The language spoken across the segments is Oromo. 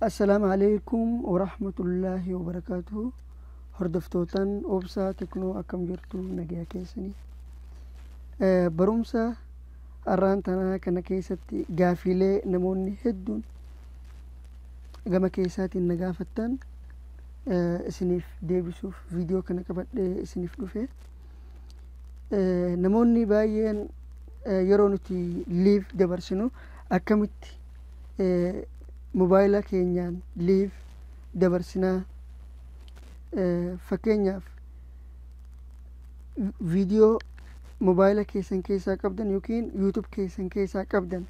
Assalaamu alaikum warahmatullaahi wabarakaatuhu hordoftootaan obsaa teknoo akkam jirtu nagaya keessanii Eh, barumsa arraan tanaa kana keessatti gaafiilee namoonni hedduun gama keessaatiin na gaafattan eh, isiniif deebisuuf viidiyoo kana qabadhee isiniif dhufe Eh, namoonni baay'een eh, yeroo nuti liiv dabarsinu akkamitti mobaayila keenyaan liif dabarsinaa fakkeenyaaf viidiyoo mobaayila keessan keessaa qabdan yookiin yuutub keessan keessaa qabdan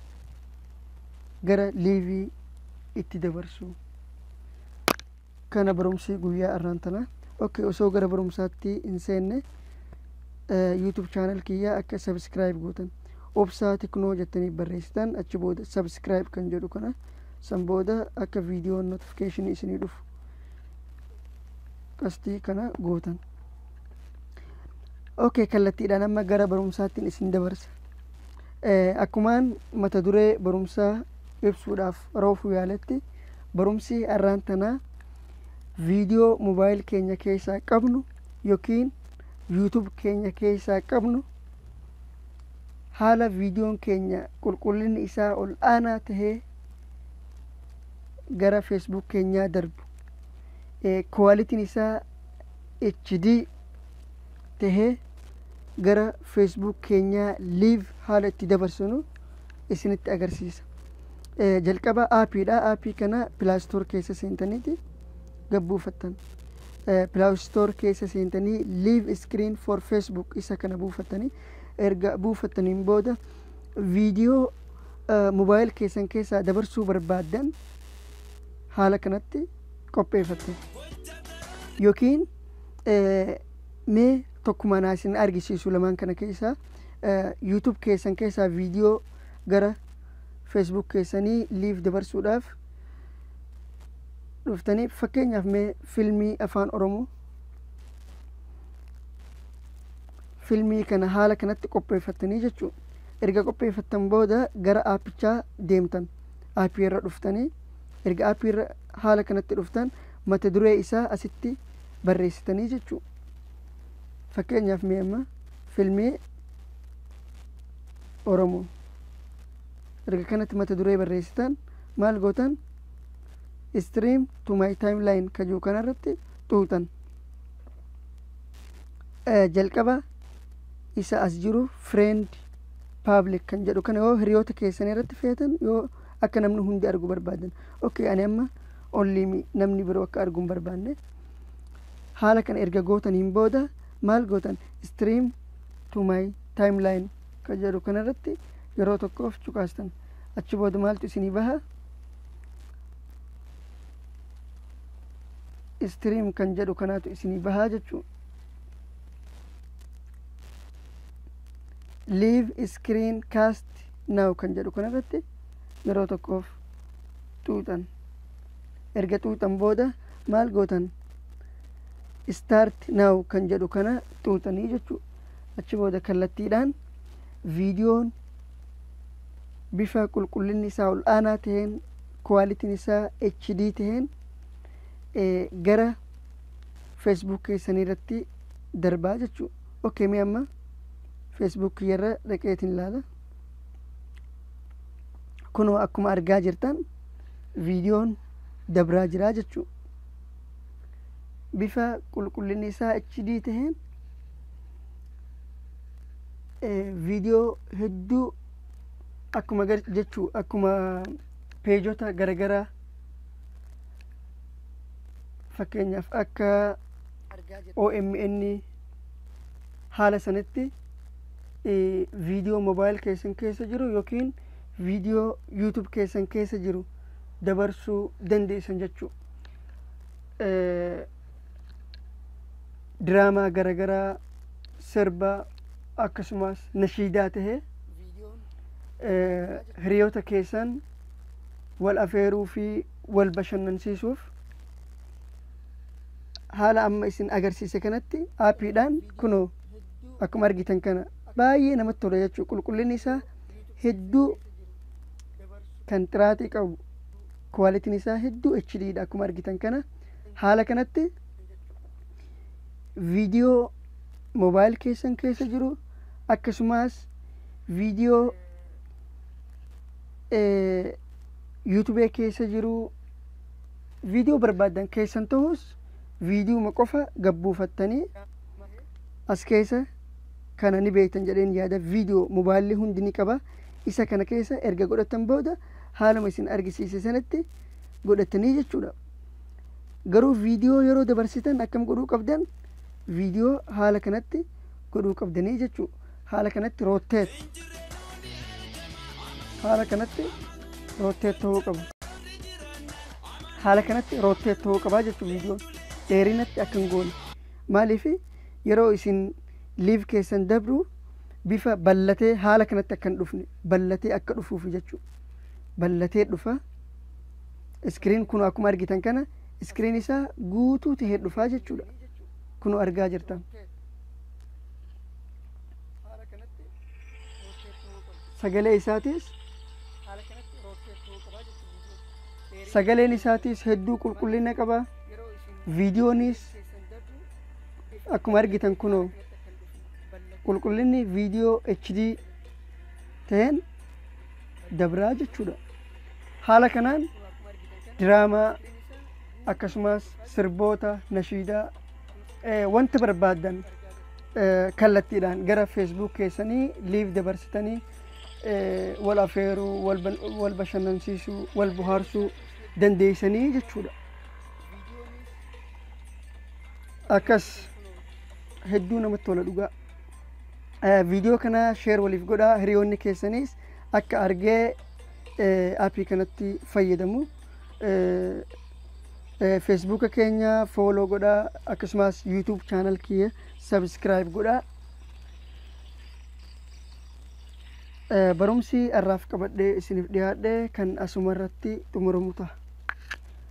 gara liivii itti dabarsu Kana barumsi guyyaa arraan tanaa. Ok osoo gara barumsaatti hin seenne YouTube channel kiyya akka subscribe gootan obsaa tiknoo jettanii barreessitan achi booda subscribe kan jedhu kana san booda akka viidiyoon notification isinii dhufu qastii kana gootan. Ok kallattiidhaan amma gara barumsaattiin isin dabarsa. Eh, akkumaan mata duree barumsaa ibsuudhaaf roofuu yaaletti barumsi har'aan tanaa viidiyoo mobaayil keenya keessaa qabnu yookiin yuutub keenya keessaa qabnu haala viidiyoon keenya qulqullinni isaa ol aanaa tahee gara feesbuuk keenyaa darbu kuwaalitiin isaa HD tahee gara feesbuuk keenyaa liiv haala itti dabarsinu isinitti agarsiisa. Jalqaba aapiidha. Aapii kana pilaastoor keessa seentaniiti gabbuufattan. Pilaastoor keessa seentanii liiv iskiriin for feesbuuk isa kana buufattanii erga buufattaniin booda viidiyoo mobaayil keessan keessaa dabarsuu barbaaddan haala kanatti qopheeffattan. Yookiin mee tokkumaan isin argisiisu lamaan kana keessaa. YouTube keessan keessaa viidiyoo gara Facebook keessanii live dabarsuudhaaf dhuftanii fakkeenyaaf mee filmii afaan Oromoo filmii kana haala kanatti qopheeffattanii jechuudha. Erga qopheeffattan booda gara aappichaa deemtan aappii irra dhuftanii erga aappii irra haala kanatti dhuftan mata duree isaa asitti barreessitanii jechuudha. Fakkeenyaaf mee amma filmii oromoo erga kanatti mata duree barreessitan maal gootan stream to my timeline ka jiru kanarratti xuuxan Eh, jalqaba isa as jiru friend public kan jedhu kana yoo hiriyoota keessan irratti feetan yoo akka namni hundi argu barbaadan ok ani amma only me, namni biroo akka argu hin barbaanne haala kana erga gootaniin booda maal gootan stream to my timeline kan jedhu kanarratti yeroo tokkoof cuqaastan achi booda maaltu isinii baha stream kan jedhu kanaatu isinii bahaa jechuu live screen cast now kan jedhu kanarratti yeroo tokkoof xuuxan erga xuuxan booda maal gootan start now kan jedhu kana xuuxanii jechuu achi booda kallattiidhaan viidiyoon bifa qulqullinni isaa ol aanaa ta'een kuwaalitiin isaa HD ta'een gara Facebook keessanii irratti darbaa jechuu ok mee amma Facebook kiyyarra dhaqeetiin ilaala kunoo akkuma argaa jirtan viidiyoon dabraa jiraa jechuu bifa qulqullinni isaa HD taheen viidiyoo hedduu akkuma jechuu akkuma peejota garagaraa fakkeenyaaf akka OMN haala sanitti viidiyoo mobaayil keessan keessa jiru yookiin viidiyoo yuutub keessan keessa jiru dabarsuu dandeessan jechuudha. diraamaa garagaraa sirba akkasumas nashiidaa tahe hiriyoota keessan wal afeeruu fi wal bashannansiisuuf haala amma isin agarsiise kanatti aappiidhaan kunoo akkuma argitan kana baay'ee namatti tola jechuu qulqullinni isaa hedduu kan xiraatii qabu Quality'n isaa hedduu HD dha akkuma argitan kana. Haala kanatti video mobile keessan keessa jiru akkasumas video eh, YouTube keessa jiru video barbaadan keessan ta'us viidiyuma qofa gabbuufattanii as keessa kana ni beektan jedheen yaada viidiyoo mobaayilli hundi ni qaba isa kana keessa erga godhatan booda haaluma isin argisiise sanatti godhattanii jechuudha. Garuu viidiyoo yeroo dabarsitan akkam godhuu qabdan viidiyoo haala kanatti godhuu qabdanii jechuu haala kanatti rootteet haala kanatti rootteet ta'uu qaba. Haala kanatti rootteet ta'uu qabaa jechuu viidiyoon dheerinatti akka hin goone maaliif yeroo isin live keessan dabru bifa ballatee haala kanatti akka hin dhufne ballatee akka dhufuuf jechuu ballatee dhufa iskiriin kun akkuma argitan kana iskiriin isaa guutuu tahee dhufaa jechuudha kun argaa jirtan sagalee isaatis sagaleen isaatis hedduu qulqullina qaba viidiyoonis akkuma argitan kunoo qulqullinni viidiyoo HD ta'een dabraa jechuudha. Haala kanaan diraamaa akkasumas sirboota nashiidaa eh, wanta barbaaddan eh, kallattiidhaan gara feesbuuk keessanii liif dabarsitanii eh, wal afeeruu wal ban- wal bashannansiisuu wal bohaarsuu dandeessanii jechuudha. akkas hedduu namatti tola dhugaa Eh, viidiyoo kana sheer waliif godhaa hiriyoonni keessaniis akka argee eh, appii kanatti fayyadamu Eh, eh, feesbuuka keenya fooloo godhaa akkasumas yuutuub chaanal kiyya sabiskiraayib godhaa Eh, barumsi har'aaf qabadhee isiniif dhiyaadhe kan asuma irratti xumuramu ta'a